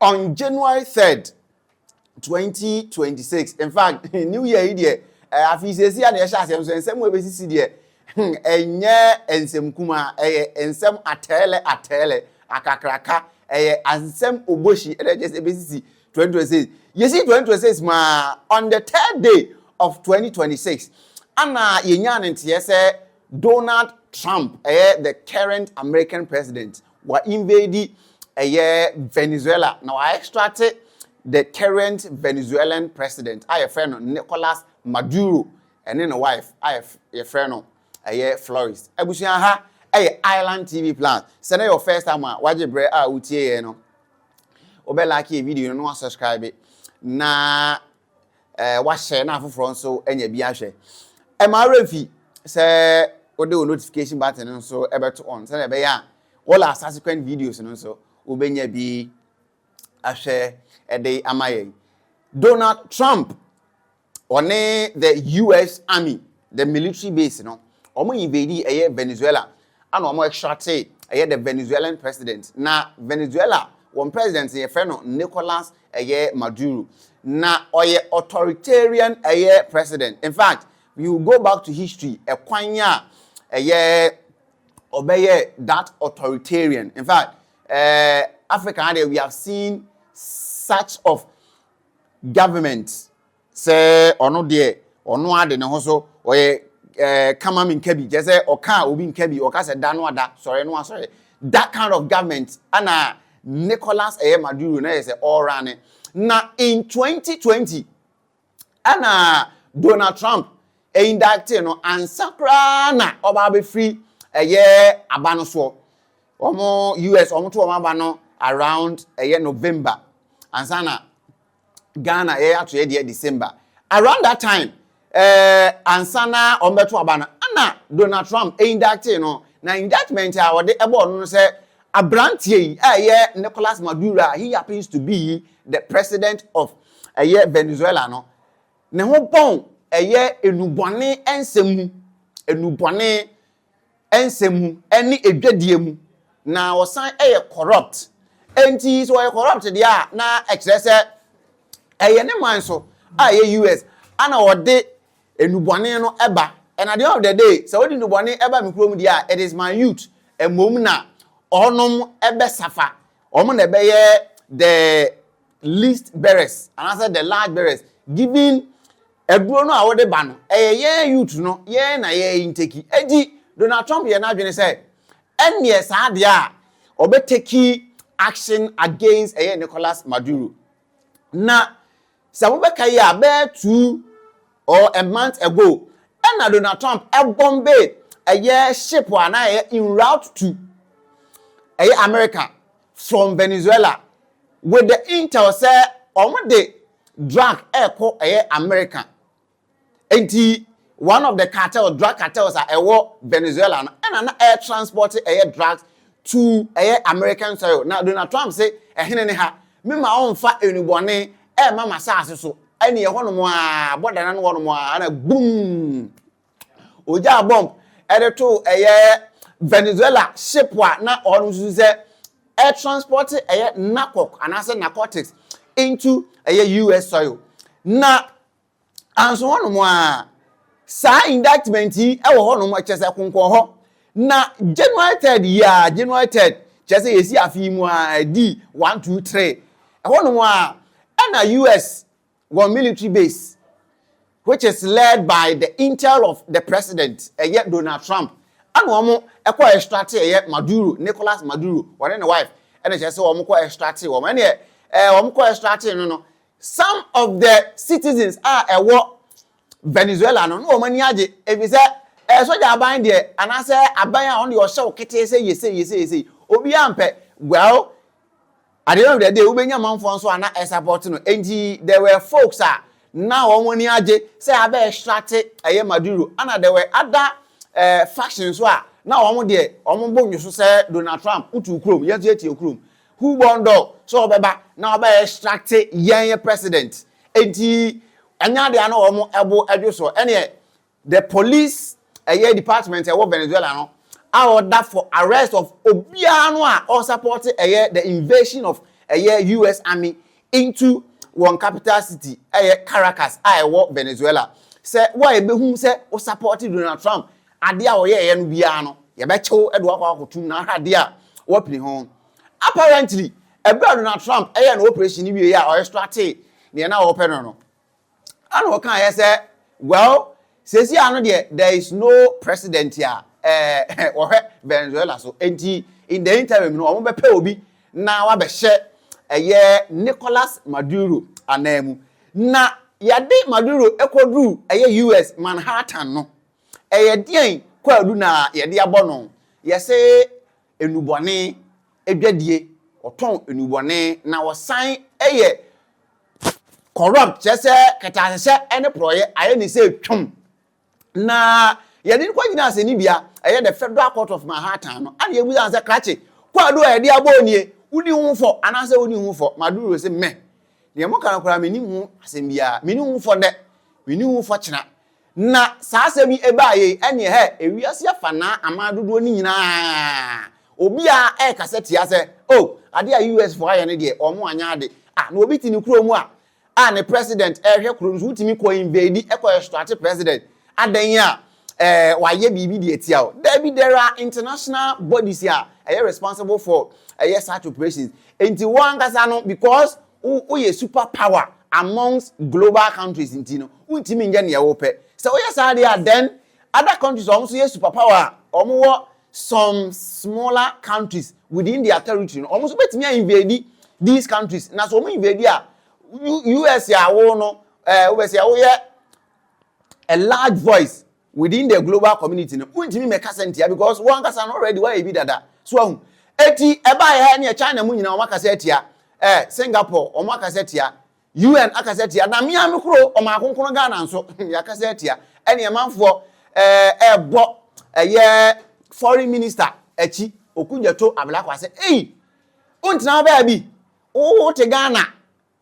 on January 3rd, 2026. In fact, New Year yi deɛ eh, afei sɛsi a na yɛhyɛ asɛm so nsɛm a ɛbɛsisi deɛ hmm, ɛnyɛ nsɛm kuma ɛyɛ nsɛm atɛɛlɛ atɛɛlɛ akakraka ɛyɛ nsɛm obohyi ɛdɛ kyɛ sɛ ɛbɛsisi 2026 yɛsi 2026 mu a on the third day of 2026 ana yɛnyaa ne nteɛ sɛ Donald Trump ɛyɛ the current American president wa invade ɛyɛ Venezuela na wa extracte the current Venezuelan president a yɛfrɛ no Nicolas Maduro ɛne ne wife a yɛfrɛ no ɛyɛ Flores abusua ha ɛyɛ Island TV Plus sɛ na yɛ first time a wagye berɛ a wotie yɛ no wobɛ like yɛ video no na wasubscribe na eh, wahyɛ na afoforɔ nso anya bi ahwɛ ɛma awura mfi sɛ wode wo notification button no nso ɛbɛto on sɛdeɛ ɛbɛyɛ a wɔla subsequent videos no nso wobɛnya bi ahwɛ ɛde ama yɛn Donald Trump Ɔne the US army the military base no ɔmo invadii ɛyɛ Venezuela ɛna ɔmo extractee ɛyɛ the Venezuelan president na Venezuela wɔn president no yɛfrɛ no Nicolas ɛyɛ Maduro na ɔyɛ authoritarian ɛyɛ president infact we will go back to history ɛkwan a ɛyɛ ɔbɛyɛ that authoritarian infact ɛɛ Africa ha deɛ we have seen such of government sɛ ɔno deɛ ɔno ara de ne ho so ɔyɛ ɛɛ eh, kama mi nka bi kyerɛ sɛ ɔka a obi nka bi ɔka sɛ da no ada sɔre no asɔre that kind of government ana Nicolas ɛyɛ eh, Maduro na yɛ sɛ ɔra ne na in 2020 ana Donald Trump ɛindacte eh, no ansa koraa na ɔba abɛfiri ɛyɛ eh, aba no soɔ Wɔn US wɔn to wɔn aba no around ɛyɛ November ansa na Ghana yɛ ato yɛ deɛ December around that time ɛɛ ansa na wɔn bɛto aba no ɛna Donald Trump indictee no na indictment a wɔde ɛbɔɔ no no sɛ abranteɛ yi a ɛyɛ Nicolas Maduro a he happens to be the president of ɛyɛ Venezuela no ne ho bɔn ɛyɛ enubɔne nsɛm mu enubɔne nsɛm mu ne adwadie mu na ɔsan yɛ corrupt nti sɛ ɔyɛ corrupt deɛ a na ɛkyerɛ sɛ ɛyɛ ne man so a ɛyɛ US ana ɔde nnubɔne no ɛba and at the end of the day sɛ ɔde nnubɔne ɛba me kurom deɛ a it is my youth mmom na ɔnom ɛbɛsafa wɔn na ɛbɛyɛ the least bearers anaasɛ the large bearers given Aduro no a wode ba no, ɛyɛ yɛn youth no yɛn na yɛ intake. Enti Donald Trump yɛ n'adwene sɛ ɛnneɛ saa deɛ a ɔbɛ take action against ɛyɛ Nicolas Maduro. Na sɛ mobɛka yi a, bɛyɛ two or a month ago, ɛna Donald Trump ɛbɔmbe ɛyɛ ship a na ɛyɛ in route to ɛyɛ America from Venezuela with the intel sɛ wɔn de drug ɛkɔ ɛyɛ America nti one of the cartel drug cartels a ɛwɔ Venezuela no ɛna na ɛyɛ transport ɛyɛ drugs to ɛyɛ American soil na Donald Trump se ɛhene ne ha me ma ɔnfa enubɔne ɛma masaase so ɛne ɛhɔ nom aa bɔda na no hɔ nom aa na boom ogyaa bɔmb de too ɛyɛ Venezuela ship a na ɔnom susu sɛ ɛtranspɔte ɛyɛ narcoc anaasɛ narcotics into ɛyɛ US soil. Na anso hɔnom a saa indictment yi wɔ hɔnom kyerɛ sɛ konkɔn hɔ na January 3rd yi a January 3rd kyerɛ sɛ yɛsi afe yi mu a ɛdi 1 2 3 ɛhɔnom a ɛna US wɔn military base which is led by the intel of the president ɛyɛ Donald Trump ɛna wɔn ɛkɔ extracte ɛyɛ Maduro Nicolas Maduro wɔne ne wife ɛna kyerɛ sɛ wɔn kɔ extracte wɔn ɛna ɛɛ wɔn kɔ extracte no no some of the citizens a ɛwɔ Venezuela no na wɔn ani agye efisɛ ɛɛ sogya aban deɛ anaasɛ aban a wɔn deɛ ɔhyɛ wo ketee sɛ yese yese yese obiara mpɛ well At the end of the day, wobɛnya manfoɔ nso a na ɛsapɔte no. Enti there were folks a na wɔn ani agye sɛ abɛɛsrate ɛyɛ Maduro. Ɛna there were other eh, factions nso a na wɔn deɛ wɔn bo nnwo so sɛ Donald Trump wotuu kurom, yɛn nso yɛtie wo kurom. Who born dog sɛ ɔbɛba na ɔbɛɛsrate yɛn president. Enti ɛnyɛ adeɛ a na wɔn bo dwo so. Ɛneɛ The police ɛyɛ department ɛwɔ Venezuela no a ɔda for arrest of obiara no a ɔsapɔte ɛyɛ the invasion of ɛyɛ US army into wɔn capital city ɛyɛ Caracas a ɛwɔ Venezuela sɛ wo a yɛbɛhu sɛ wo sapɔte Donald Trump adeɛ a ɔyɛɛyɛ no biara no yɛbɛkye wo de wakɔ akɔtum na ahwɛ adeɛ a wapini ho apparently ɛberɛ a Donald Trump ɛyɛ no operation no wieɛ a ɔyɛ stratee deɛ na ɔpɛ no no. Ɛna ɔkaeɛ sɛ, Well, seesei ara no deɛ there is no president a ɛɛ wɔhwɛ Venezuela so, enti in the interim no wɔbɛpɛ obi na wabɛhyɛ ɛyɛ Nicolas Maduro anan mu. Na yɛde Maduro kɔduru ɛyɛ US Manhattan no, ɛyɛ deɛn kwaadu na yɛde abɔ no? Yɛse nnubɔne adwadie, wɔtɔn nnubɔne na wɔsan yɛ corrupt kyerɛ sɛ kɛtɛanhyɛ ne porɔeɛ ayɛ ne sɛ twam na yɛde no kɔ gyina asɛnnibea ɛyɛ the federal court of manhattan no ana yɛbusa no sɛ krakye kwaadu a yɛde abɔ nie woni ho fɔ anaasɛ woni ho fɔ maduro sɛ mɛ deɛ moka no koraa menni ho asɛm biara menni ho fɔ dɛ menni ho fɔ kyena Na saa asɛm yi baeɛ yi, ɛneɛ hɛ, ewiase afanaa aman dodoɔ no nyina ara, obiara rekasa tia sɛ, oh, adeɛ a US foɔ ayɛ no deɛ, wɔn anyɛ ade. Ah, na obi te ne kuro mu a, a ne president rehwɛ kuro no so, wotumi kɔ invade, kɔ extract president, adɛn a, eh, wayɛ biribi de atia wo. Daabi, there are international bodies a ɛyɛ responsible for ɛyɛ such operations. Enti wɔn ankasa no, because wo woyɛ super power amongst global countries nti no wontumi nyɛ nea wopɛ sɛ woyɛ saa deɛ a then other countries wɔn nso yɛ super power a wɔn wɔ some smaller countries within their territory no wɔn nso bɛtumi a invade these countries na sɛ wɔn invade a US a wo no ɛɛ wobɛsi a woyɛ a large voice Within the global community no wontumi mmɛka sɛ ntia because wo ankasa no already woayɛ bi dada so ahu eti ɛbaa yɛ ha ne yɛ China mu nyinaa wɔn akasa atia eh Singapore wɔn akasa atia UN akasa atia na mmea me koro ɔman konkono Ghana nso yɛakasa atia ɛne ɛmanfoɔ eh ɛbɔ ɛyɛ foreign minister akyi okudwato ablakwase ei wontena baabi wote Ghana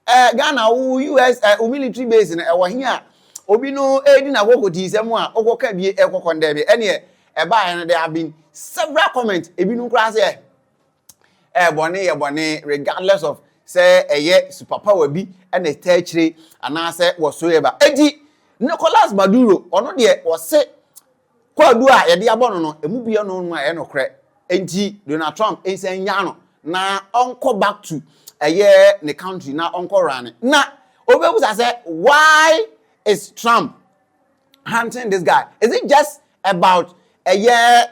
Eh Ghana wo US eh wo military base no ɛwɔ he a obi no ɛɛdi n'akoko tii sɛ mu a okɔ ka bie ɛkɔ kɔ ndɛ bi ɛneɛ ɛbaa yɛ no there have been several comment ebi nom koraa sɛ eh bɔne yɛ bɔne regardless of sɛ ɛyɛ super power bi ɛna ɛta akyire anaasɛ wɔ so yɛ ba ɛnti Nicolas Maduro ɔno deɛ ɔse Kwaadu a yɛde abɔ no no, emu bi ɛno no ɛyɛ nokorɛ. Enti Donald Trump nsan nyaa no na ɔnkɔ back to ɛyɛ ne country na ɔnkɔ runne. Na obɛbusa sɛ why is Trump hunting this guy? Is it just about ɛyɛ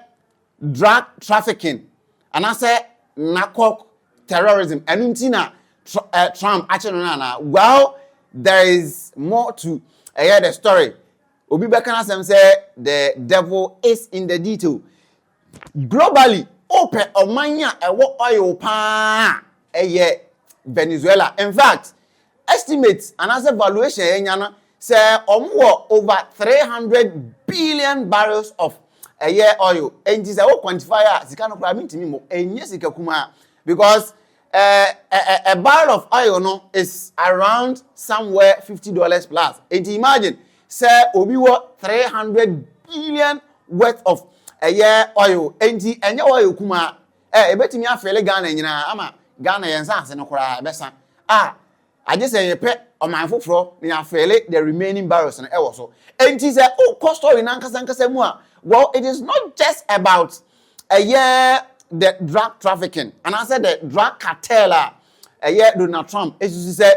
drug trafficking anaasɛ narcoc terrorism? Ɛno nti na Trump akye no no anaa? Well, there is more to ɛyɛ the story. Obi bɛka n'asɛm sɛ the devil is in the detail. Globally, wopɛ ɔman a ɛwɔ oil paa a, ɛyɛ Venezuela. In fact, estimate anaasɛ valuation a yɛanya no, sɛ wɔn wɔ over 300 billion barrels of ɛyɛ oil. Enti sɛ wo quantify a, sika no koraa mentumi mmɔ. Ɛnyɛ sika kumaa because Eh, a barrel of oil no is around somewhere fifty dollars plus. Enti imagine sɛ obi wɔ three hundred billion worth of ɛyɛ oil. Enti ɛnyɛ oil kumaa. Eh, ebetumi afele Ghana nyinaa ama Ghana yɛn nsaase no koraa ɛbɛsa. Ah, Agye sɛ yɛpɛ ɔman foforɔ na yɛafele the remaining barrels no wɔ so. Enti sɛ wokɔ story no ankasa ankasa mu a, well it is not just about ɛyɛ the drug trafficking anaasɛ the drug cartel a ɛyɛ Donald Trump susu sɛ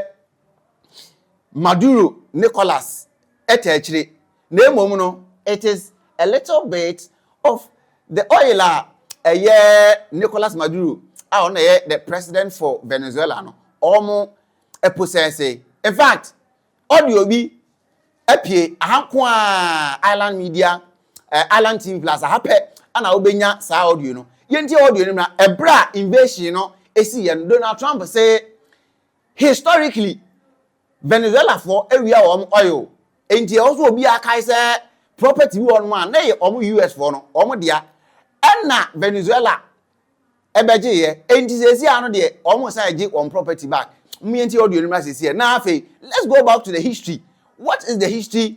Maduro Nicolas ta akyire. Na mmom no, it is a little bit of the oil a ɛyɛ Nicolas Maduro a ɔno na ɛyɛ the president for Venezuela no, wɔn ɛposɛɛse. In fact, audio bi apue, aha nko a Island Media, eh, Island TV Plus, aha pɛ ana wobɛnya saa audio no. Yɛntie audio no mmra, ɛberɛ a invasion no ɛsi yɛ no, Donald Trump se, historically, Venezuelafoɔ awia wɔn oil enti ɛwɔ sɛ obiara akae sɛ property bi wɔ hɔnom a na ɛyɛ wɔn US foɔ no wɔn dea ɛna Venezuela ɛbɛgyeeɛ enti seesei ano deɛ wɔn san gye wɔn property back. Moyɛntie audio no mmra seesei na afei let's go back to the history what is the history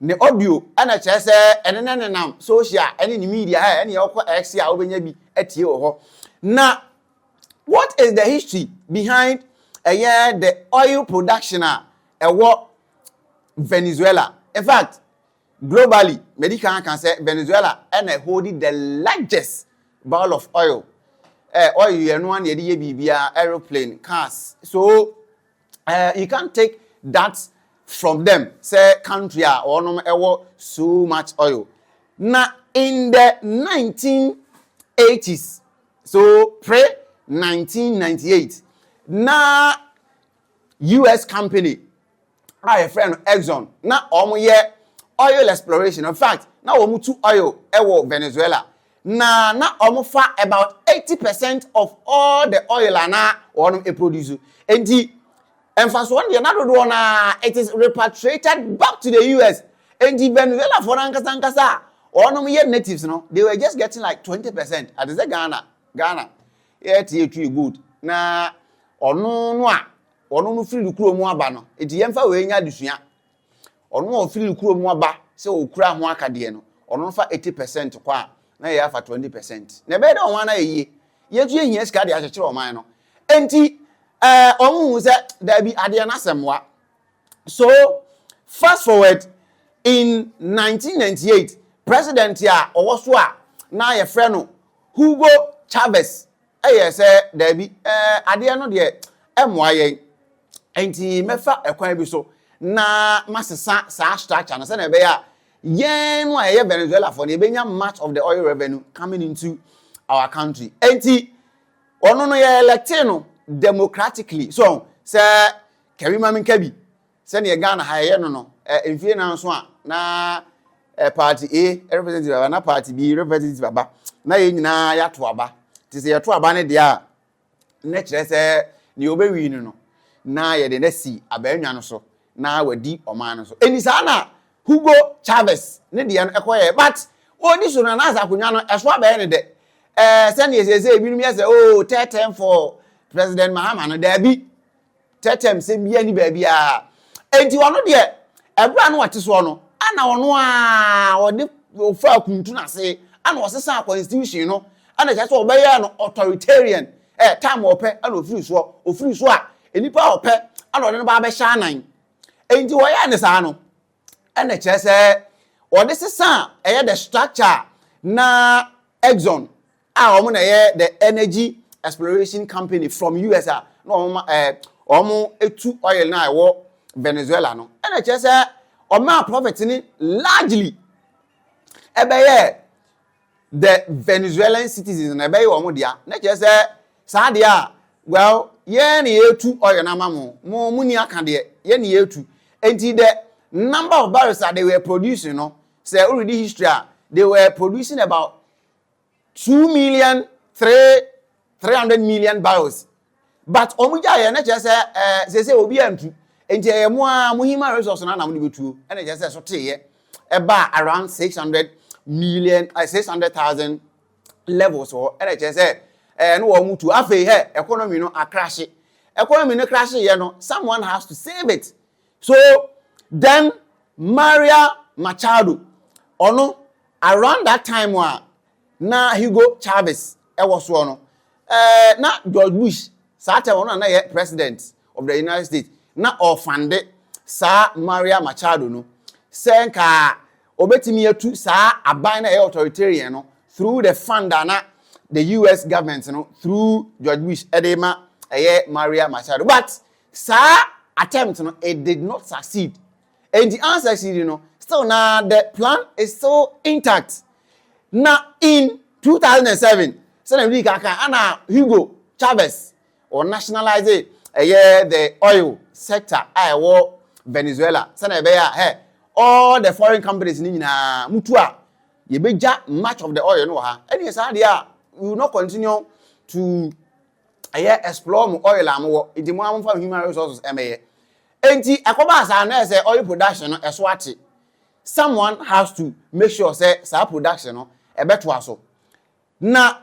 ne audio na kyerɛ sɛ ɛne ne nenam social ne ne media a ɛne ɔkɔ X a wobɛnya bi atie wɔ hɔ na what is the history behind ɛyɛ the oil production a ɛwɔ Venezuela in fact globally mɛdi kan aka sɛ Venezuela ɛna ɛhold the largest barrel of oil eh, oil yɛ no a na yɛde yɛ biribiara aeroplane cars so Eh you can't take that from them sɛ country a wɔnom ɛwɔ so much oil na in the 1980s so pre 1998 na US company a yɛfrɛ no Exxon na wɔn yɛ oil exploration in fact na wɔn tu oil ɛwɔ Venezuela Na na wɔn fa about eighty percent of all the oil a na wɔn produce. Enti mfasoɔ no deɛ na dodoɔ no ara it is repatriated back to the US. Enti Venezuela foɔ no ankasa ankasa a wɔn yɛ natives no they were just getting like twenty percent. Ate sɛ Ghana Ghana yɛte yɛtwi gold na ɔno no a wɔn no firi no kuro mu aba no. Enti yɛmfa wei nyɛ adesua. Ɔno a ɔfiri kuro mu aba sɛ ɔkura ho akadeɛ no, ɔno no fa eighty percent kɔ a, na yɛn afa twenty percent. Na ɛbɛyɛ dɛ wɔn ara na ayɛ yie. Yɛn nso yɛhia sika de akyekyere wɔn man no. Enti ɛɛ wɔn hu sɛ daabi adeɛ no asɛm wa. So fast forward in nineteen ninety eight president a ɔwɔ so a na yɛfrɛ no Hugo Chavez Ɛyɛ sɛ daabi, ɛɛ, adeɛ no deɛ ɛmmoa yɛn, nti mɛfa ɛkwan bi so na masesa saa structure no sɛdeɛ ɛbɛyɛ a yɛn no a yɛyɛ Venezuelafoɔ no yɛbɛnya much of the oil revenue coming into our country. Nti ɔno no yɛ electee no democratically. So sɛ Kerima Minkabi Sɛdeɛ Ghana ha yɛyɛ no no, mfie nnan nso a, na party A representative aba, na party B representative aba, na yɛn nyinaa yɛato aba. Nti sɛ yɛto aba no deɛ a, na kyerɛ sɛ deɛ ɔbɛwin no no, na yɛde no asi abaanwa no so, na wadi ɔman no so. Ɛnti saa na Hugo Chavez ne deɛ no kɔyɛɛ. But ɔredi so no, anaasɛ akonnwa no, ɛso abɛyɛ no dɛ. Ɛɛ, sɛdeɛ seesei ebinom yɛ sɛ, oh, third term for President Mahama no, daabi. Tɛtɛm sɛm biara ni baabiara. Enti ɔno deɛ, ɛberɛ a na ɔte soɔ no, ɛna ɔno ara ɔde ɔfaa kuntu no ase, ɛna ɔsesaa constitution no, ɛna kyerɛ sɛ ɔbɛyɛɛ no authoritarian, ɛ, time a ɔpɛ ɛna ɔfiri soɔ, ɔfiri so a, nnipa a ɔpɛ ɛna ɔde no ba abɛhyɛ anan. Enti ɔyɛɛ no saa no, ɛna kyerɛ sɛ ɔde sesaa ɛyɛ the structure a na Exxon a wɔn na ɛyɛ the energy exploration company from us a na wɔn ma ɛɛ wɔn etu oil na ɛwɔ venezuela no ɛna kyerɛ sɛ wɔn a profit ne largely ɛbɛyɛ the venezuelan citizens na ɛbɛyɛ wɔn dea na kyerɛ sɛ saa deɛ a well yɛn na yɛtu oil na ama mo mo mo ni aka deɛ yɛn na yɛtu nti the number of barrels a they were producing no sɛ already history a they were producing about two million three three hundred million barrels but wɔn gya yɛ na kyerɛ sɛ ɛɛ sese obi antu nti ɛyɛ mo a mo human resource na na mo de betuo ɛna kyerɛ sɛ so teeɛ ɛbaa around six hundred million ɛɛ six hundred thousand levels hɔ ɛna kyerɛ sɛ ɛɛ no wɔn tu afei hɛ economy no akrahye economy no krahye yɛ no someone has to save it. So then Maria Machado, ɔno around that time a na Hugo Chavez ɛwɔ soɔ no, eh, na George Bush saa time ɔno na na yɛ president of the United States na ɔfande saa Maria Machado no sɛ nka ɔbɛtumi atu saa aban na ɛyɛ authoritarian no through the fund a na the US government no through George Bush ɛde ma ɛyɛ Maria Machado but Saa attempt no it did not succeed enti answer sheet no still na the plan is still intact na in 2007 sɛnea mede ka kan ana Hugo Chavez wɔ nationalize ɛyɛ the oil sector a ɛwɔ Venezuela sɛnea ɛbɛyɛ a hɛ all the foreign companies no nyinaa mutu a yɛbɛgya much of the oil no wɔ ha ɛne saa deɛ a we will not continue to ɛyɛ explore mo oil a mowɔ nti mo a momfa human resources ɛmɛyɛ nti ɛkɔbaa saa na ɛsɛ oil production no ɛso ate someone has to make sure sɛ saa production no ɛbɛtoa so na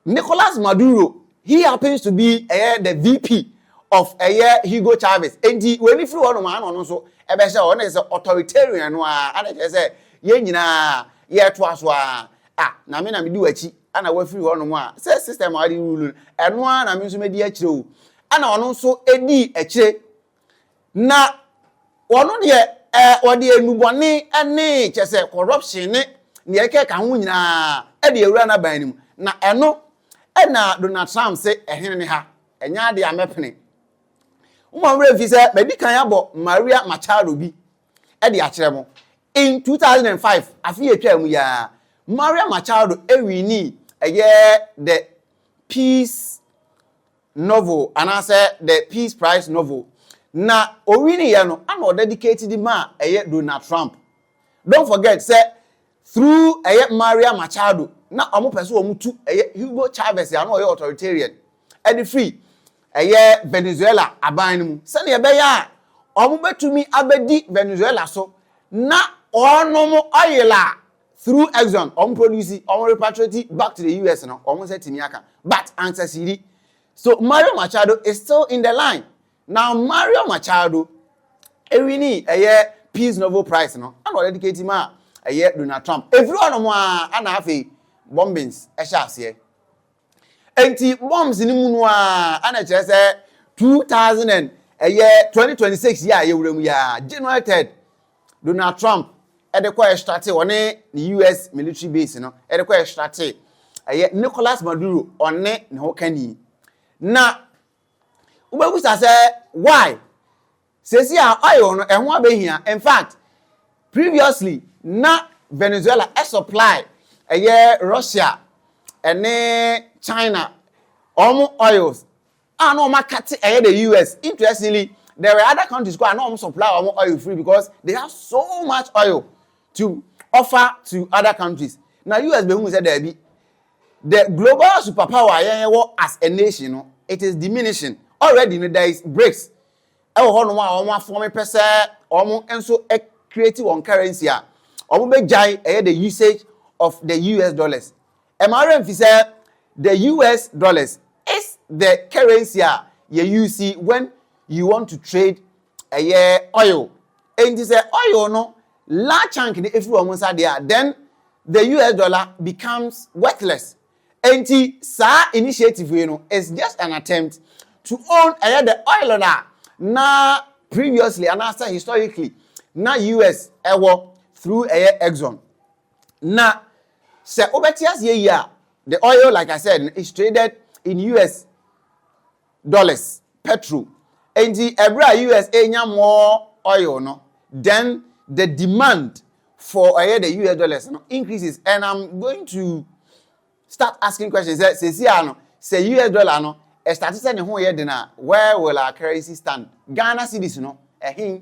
Nicolas Maduro he happens to be ɛyɛ the VP of ɛyɛ Hugo Chavez nti w'ani firi hɔ nom a na ɔno nso ɛbɛhyɛ hɔ na sɛ authoritarian no a ana kyerɛ sɛ yɛn nyinaa yɛtoa so a ah na me na medi w'akyi na wafiri hɔnom a, sɛ system a wɔde rule no, ɛno ara na me nso mɛdi akyire o. Ɛna ɔno nso dii akyire. Na ɔno deɛ ɛɛ ɔde enubɔne ne kyɛ sɛ corruption ne deɛ ɛkeka ho nyinaa de awura n'aban no mu. Na ɛno ɛna Donald Trump se ɛhene ne ha, ɛnyɛ adeɛ a mɛpene. Mo mmerɛ mfi sɛ madi kan abɔ Maria Machado bi de akyerɛ mo. In two thousand and five, afe a etwaa mu yi ara, Maria Machado winii ɛyɛ the Peace Novel anaasɛ the Peace Prize Novel. Na owiniiɛ no, ɛna ɔdedicate de maa ɛyɛ Donald Trump. Don't forget sɛ Through ɛyɛ Maria Machado na wɔn pɛ sɛ wɔn tu ɛyɛ Hugo Chavez a na ɔyɛ authoritarian ɛde firi ɛyɛ Venezuela aban no mu sɛdeɛ ɛbɛyɛ a wɔn bɛtumi abɛdi Venezuela so na wɔnom oil a through Exxon wɔn produce wɔn repatriate back to the US no wɔn nsa tumi aka but ansasiri so Mario Machado is still in the line Na Mario Machado ɛwini ɛyɛ Peace Novel Prize no ɛna ɔdedicate ma ɛyɛ Donald Trump. Ɛfiri hɔ nom aa ɛna afei bombings ɛhyɛ aseɛ. Ɛnti bombs no mu no aa ɛna ɛkyerɛ sɛ 2000 and ɛyɛ 2026 yi a yɛwura mu yi aa January 3rd Donald Trump ɛde kɔ ɛstrate ɔne ne US military base no ɛde kɔ ɛstrate ɛyɛ Nicolas Maduro ɔne ne ho kani na wobɛbusa sɛ why sɛsi a oil no ɛho abɛhia infact previously na Venezuela ɛsupply ɛyɛ Russia ɛne China wɔn oils a na wɔn akate ɛyɛ the US interestingly there were other countries kɔ a na wɔn supply wɔn oil free because they have so much oil to offer to other countries na US bɛhuu sɛ daabi the global superpower a yɛn wɔ as a nation no it is diminishing already no there is BRICS ɛwɔ hɔ nom a wɔn afɔme pɛ sɛ wɔn nso create wɔn currency a wɔn bɛgyae ɛyɛ the usage of the US dollars Ɛma wo werɛ mfi sɛ the US dollars is the currency a yɛ use when you want to trade ɛyɛ oil. Enti sɛ oil no large chunk no firi wɔn nsa deɛ a, then the US dollar becomes worthless. Enti saa initiative wei no is just an attempt to own ɛyɛ the oil no a na previously anaasɛ historically na US ɛwɔ through ɛyɛ Exxon. Na Sɛ wobɛte aseɛ yie a, the oil like I said no is traded in US dollars, petrol. Enti ɛberɛ a US renya more oil no, then the demand for ɛyɛ the US dollars no increases and I'm going to start asking questions sɛ sɛsi a no sɛ US dollar no ɛstate sɛ ne ho yɛ den a where will our currency stand? Ghana cedis no ɛhe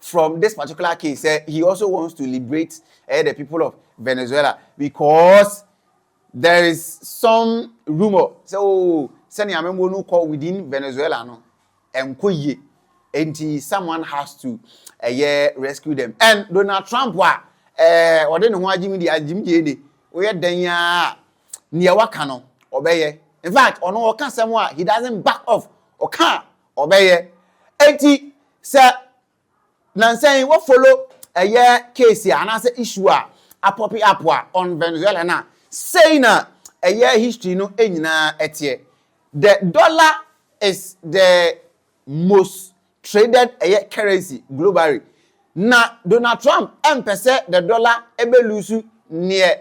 from this particular case sɛ he also wants to liberate ɛyɛ eh, the people of Venezuela because there is some rumour sɛ oh sɛnea amemmuo no kɔ within Venezuela no ɛnkɔ yie nti someone has to ɛyɛ eh, rescue them and Donald Trump a ɛɛ ɔde ne ho agyimi deɛ agyimi deɛ de oyɛ dan yi a nea waka no ɔbɛyɛ in fact ɔno ɔka sɛm a he doesn't back off ɔka Ɔbɛyɛ. Enti sɛ nansa yi wo follow ɛyɛ case a anaasɛ issue a apɔpe up a on Venezuela no a, sei na ɛyɛ history no nyinaa ɛteɛ. The dollar is the most traded ɛyɛ currency globally. Na Donald Trump ɛmpɛ sɛ the dollar ɛbɛ lose neɛ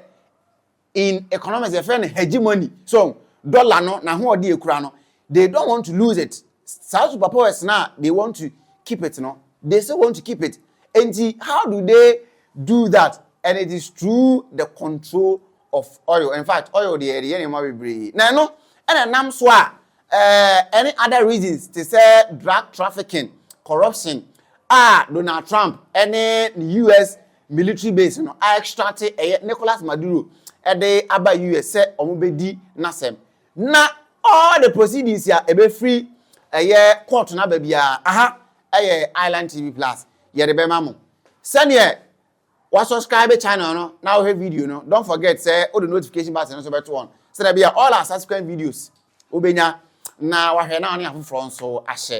in economics yɛfrɛ no hegemony so dollar no na ho ɔde ekura no they don't want to lose it saa superpowers na they want to keep it no they still want to keep it enti how do they do that and it is through the control of oil in fact oil deɛ ɛde yɛ nneɛma bebree na ɛno ɛna nam so a ɛɛ eh, any other reasons te sɛ drug trafficking corruption a Donald Trump ɛne us military base no a extrate ɛyɛ Nicolas Maduro de aba US sɛ wɔn bɛdi n'asɛm na all the proceedings a ɛbɛfiri ɛyɛ court no aba biara aha ɛyɛ Island TV Plus yɛde bɛma mo sɛdeɛ wa subscribe channel no na wohwɛ video no don't forget sɛ wode notification button no nso bɛto on sɛdeɛ bia all our subsequent videos Wobenya na wahwɛ na ɔne afoforɔ nso ahyɛ.